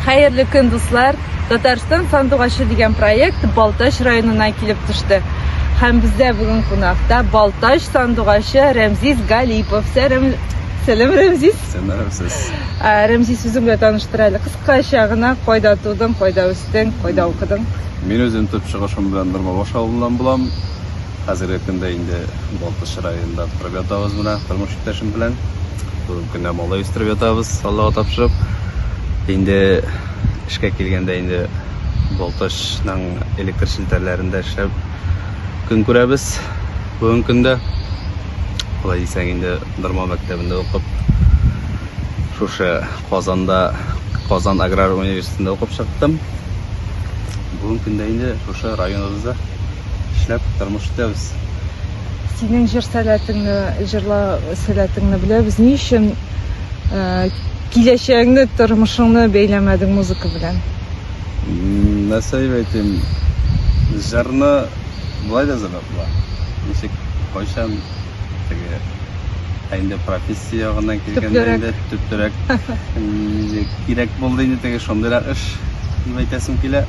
Хәерле көн дуслар! Татарстан сандугачы дигән проект Балтач районына килеп төште. Һәм бездә бүген кунакта Балтач сандугачы Рәмзис Галипов. Сәрем... Сәлем, Рәмзис! Сәләмсез. Ә, Рәмзис, үзең белән таныштыр әле. Кыскача гына, кайда тудың, кайда үстең, кайда укыдың? Мин үзем төп чыгышым белән Нормабаш авылыннан булам. Хәзерге көндә инде Балтач районында торып ятабыз менә тормыш иптәшем белән. Бүгенге көнне малай үстереп ятабыз, Аллага тапшырып. Инде эшкә килгәндә инде Балтачның электр челтәрләрендә эшләп көн күрәбез. Бүгенге көндә алай дисәң инде Норма мәктәбендә укып, шушы Казанда Казан аграр университетында укып чыктым. Бүгенге көндә инде шушы районыбызда эшләп, тормыш итәбез. Синең җыр сәләтеңне, җырлау сәләтеңне беләбез. Ни өчен киләчәгеңне, тормышыңны бәйләмәдең музыка белән? Нәрсә дип әйтим, җырны болай да җырлыйм. була. Ничек, кайчан теге ә инде профессия ягына килгәндә инде төптөрәк кирәк булды инде теге шундыйрак эш дип әйтәсем килә.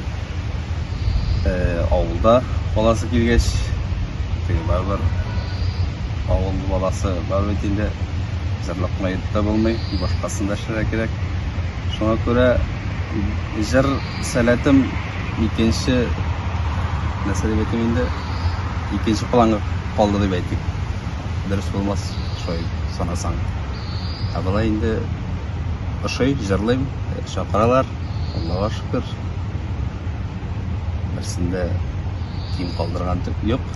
Э, авылда баласы килгәч, теге барыбер авыл баласы бар бит инде җырлап кына йөреп тә булмый, башкасын да эшләргә кирәк. Шуңа күрә җыр Сәләтем икенче, нәрсә дип әйтим инде, икенче планга калды дип әйтик. Дөрес булмас, шулай санасаң. Ә болай инде ошый, җырлыйм, чакыралар, Аллага шөкер. Берсендә ким калдырган юк.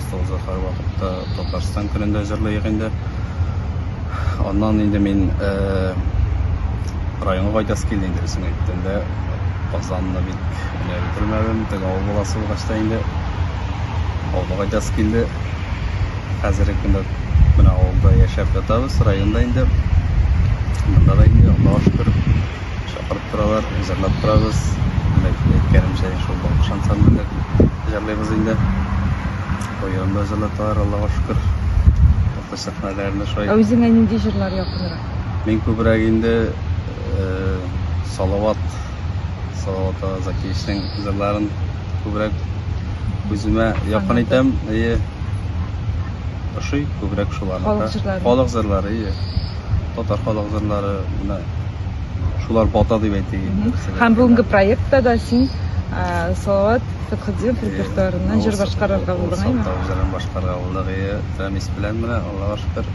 Остазы һәрвакытта Татарстан көнендә җырлыйк инде. Аннан инде мин районга кайтасы килде инде, исең әйткәндә, Казанны бик менә бетермәдем, теге авыл баласы булгач та инде авылга кайтасы килде. Хәзерге көндә менә авылда яшәп ятабыз, районда инде. Монда да инде Аллага шөкер. Чакырып торалар, җырлап торабыз. Әмма әйткәнемчә, шул Балкыш ансамбле белән җырлыйбыз инде. Быел да җырлаталар, Аллага шөкер. Урта сәхнәләрне шулай. Ә үзеңә нинди җырлар якынрак? Мин күбрәк инде Салават, Салават ага Закиевичның җырларын күбрәк үземә якын итәм. Әйе. Ошый күбрәк шуларны. Халык җырлары. Халык җырлары, әйе. Татар халык җырлары, менә. шулар бата дип әйтик. Һәм бүгенге проектта да син Салават Фәтхетдинов репертуарыннан җыр башкарырга булдың, әйме? Салават җырын башкарырга булдык, әйе. Фәмис белән менә, Аллага шөкер.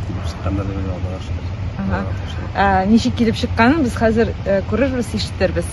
Килеп чыкканда дип уйлыйм, Аллага шөкер. Ничек килеп чыкканын без хәзер күрербез, ишетербез.